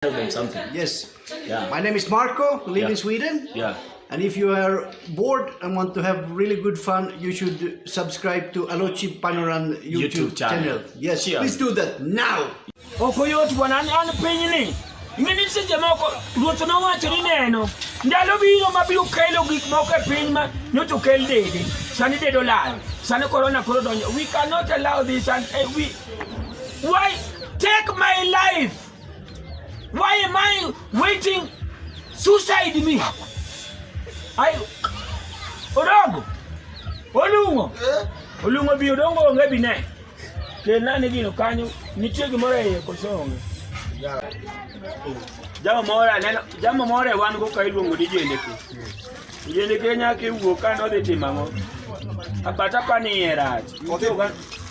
tell them something. Yes. Yeah. My name is Marco, live Yeah. in Sweden. Yeah. And if you are bored and want to have really good fun, you should subscribe to Alochi Panoran YouTube, YouTube channel. Yes, Sure. please do that now. okoyot bwana an an pinyni mini seche moko ruoth nowacho ni neno ndalo biro mabiro kelo gik moko e piny ma nyocha okel dede sani dede olal sani korona koro donjo we cannot allow this and eh, we why take my life Why am I waiting suicide me? I Odongo. Olungo. Eh? Olungo bi odongo onge bi ne. Kena ni gino kanyo nitie gimoro e koso onge. Jama moro aneno, jama moro e wan go ka iluongo ni jendeke. Jendeke nyaka iwuo ka nodhi timo ang'o? Apata pa ni e rach.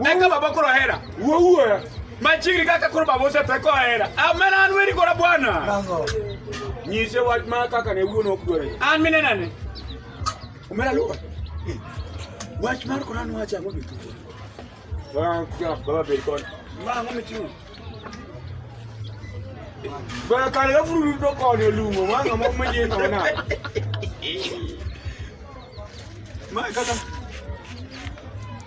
Eka baba koro hera. Wuoyo. Machiri kaka koro baba oseteko hera. Amena an weri kora bwana. Nyise wach ma kaka ne wuon ok dware. An mine nane. Omera luwa. Wach mar kora nwa cha ngobi. Baba baba be kon. Ma ngomi chiwo. Bwana kale gafuru to kone lungo ma ngamo mwenye ngona. Ma kaka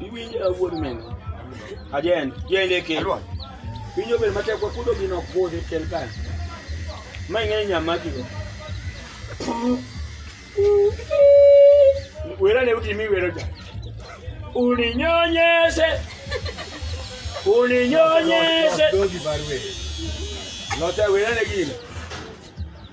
Iwinjo wuod meno. Ajen, jende ke. Pinyo bel matek kwa kudo gino kode kel kan. Mai ng'e nyama kigo. Wera ne uti mi wero ja. Uninyonyese. Uninyonyese. Dogi barwe. Lota wera ne gino.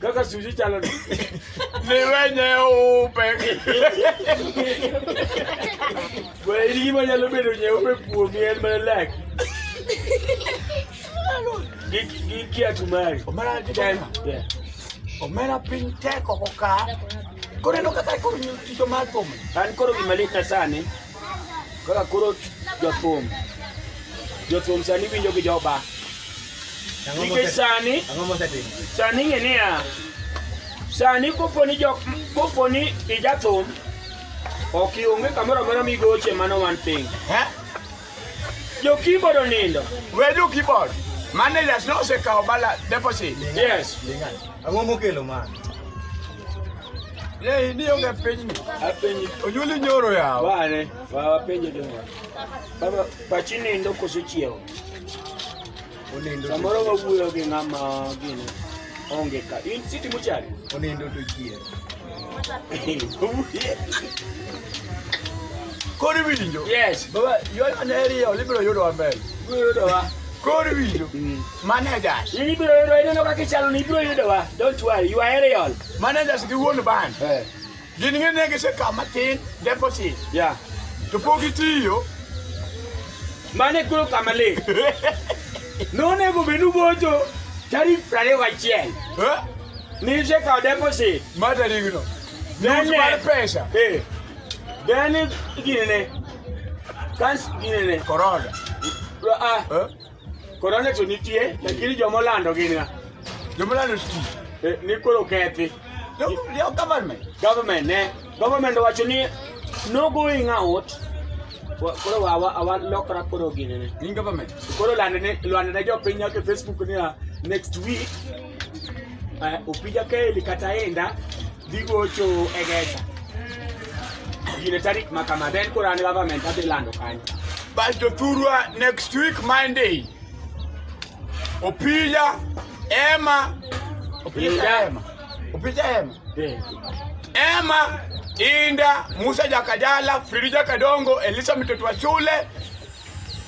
Kaka sushi chalo ni. Ni wenye upe. Kwa hili kima nyalo bedo nye upe kuomi en mana laki. Giki atumari. Omara atumari. Yeah. Omera piny tek oko ka. Koro eno kaka koro tich omar kuome. An koro gima lit na sani. Kaka koro jothum jothum sani winjo gi joba nikech sani sani ng'e niya sani koponi jok koponi ijathum ok ionge kamoro amora migoche mano wan piny jokibod onindo we jokibod managers ne osekawo bala deposit yes ang'o mokelo mano Lei ni onge piny ni. Apenyi. Onyuli nyoro yawo. Bane, wa penje de. Baba pachi nindo koso chiewo. Onindo. Samoro wawuoyo gi ng'ama gini. Onge ka. In siti muchari. Onindo to chiewo. Kori winjo. Yes. Baba, yona ne riyo libiro yudo maber. Libiro yudo wa. Kori winjo. Mm. Manager. Libiro yudo ineno kaka ichalo ni ibiro yudo wa. Don't worry, you are aerial. Managers gi wuon bank Eh, gin ng'e ne gisekawo matin deposit yeah. to pok gitiyo Mane koro kama le. Nonego bed ubocho tarik prariyo gachiel. Eh, Nise kao deposit. ma tarigno Then, nus mar eh, pesa Eh. Then ginene. Kans ginene. korona Ah. Eh, Korona to nitie, lakini joma olando gin ng'a? Joma olando sti. Eh, ni koro kethi. Yo government. Government, ne. Government wacho ni no going out. Koro wawa awa lokra koro gini ne. In government. Koro lande ne lande ne jopiny nyaka Facebook ni next week Eh, Opija Keli kata Enda dhi gocho e Gesa. Gine tarik ma kama then koro an government adhi lando kanyo. Basto Thurwa next week Monday. Opija Emma Opija Emma. Opija Emma. Eh. Emma Inda Musa Jakajala Frida Kadongo Elisa Mitoto wa shule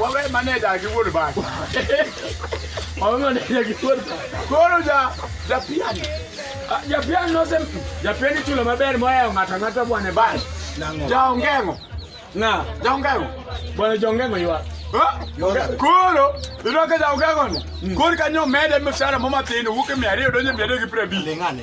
Wawe maneja gi wuod bach. Wawe maneja gi wuod bach. Koro ja ja pian. Ah, ja pian no sem. Ja pian ichulo maber moya ng'ata ng'ata bwana bach. Ja ongengo. Na, ja ongengo. Bwana ja ongengo ywa. Koro iroke ja ongengo ni. Mm. Koro kanyo mede mshahara mama tendo wuke 200 donje 250. Lingane.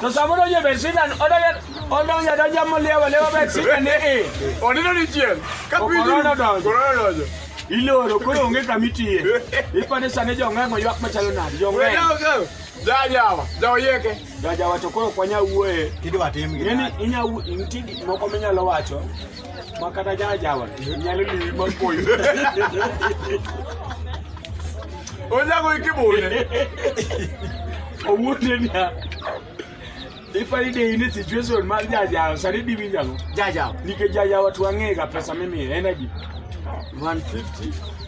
Tosamuno nye besina odoya odoya doja molewa lewa besina ne e. Onino ni chien. Kapinyo. Korona donjo. Korona donjo. Iloro koro onge kama itiye. Ipande sane jong'eng'o ywak machalo nadi jong'eng'o. Jajawa, jaoyeke. Jajawa to koro kwanya wuoye. Kidi watim gi. Yaani inya nitie gik moko minyalo wacho. Ma kata jala jawan, nyalo liwi ma koyo. Onyago iki bune. Owuote niya. Ipani de in e situation mar jajawa, sani di winjo ang'o? Jajawa. Nikech jajawa to wang'ega pesa mimiye, en adi? 150.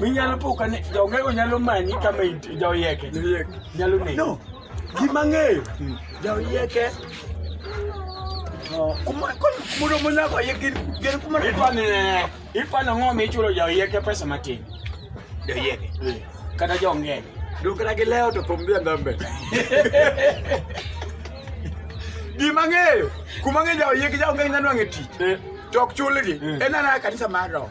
minyalo poka ni jaongego nyalo manyi kama intie jaoyeke nyalo negi no gima ng'eyo jaoyeke to kuma- ko- mudo munyako ye gin gin kuma ipani ne ipani ng'o michulo jaoyeke pesa matin jaoyeke kata jaongego dukra gi leo to thum dhia ndambe gima ng'eyo kuma ng'e jaoyeke jaongego nyanwang'e tich to ok chulgi Mm. en anaya kanisa mar roho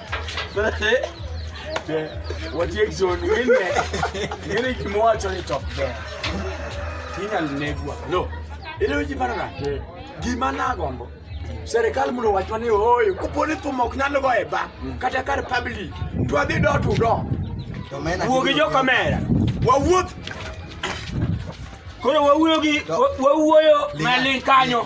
Watiek zoni ngine ngine kimowacho ni top ber inyalo negwa lo ile weche paro na gima nagombo serikal mondo wachwa ni ooyo koponi thum ok nyal go e ba kata kar public to adhi do to do wuo gi jokamera wawuoth koro wawuoyo gi wawuoyo maling kanyo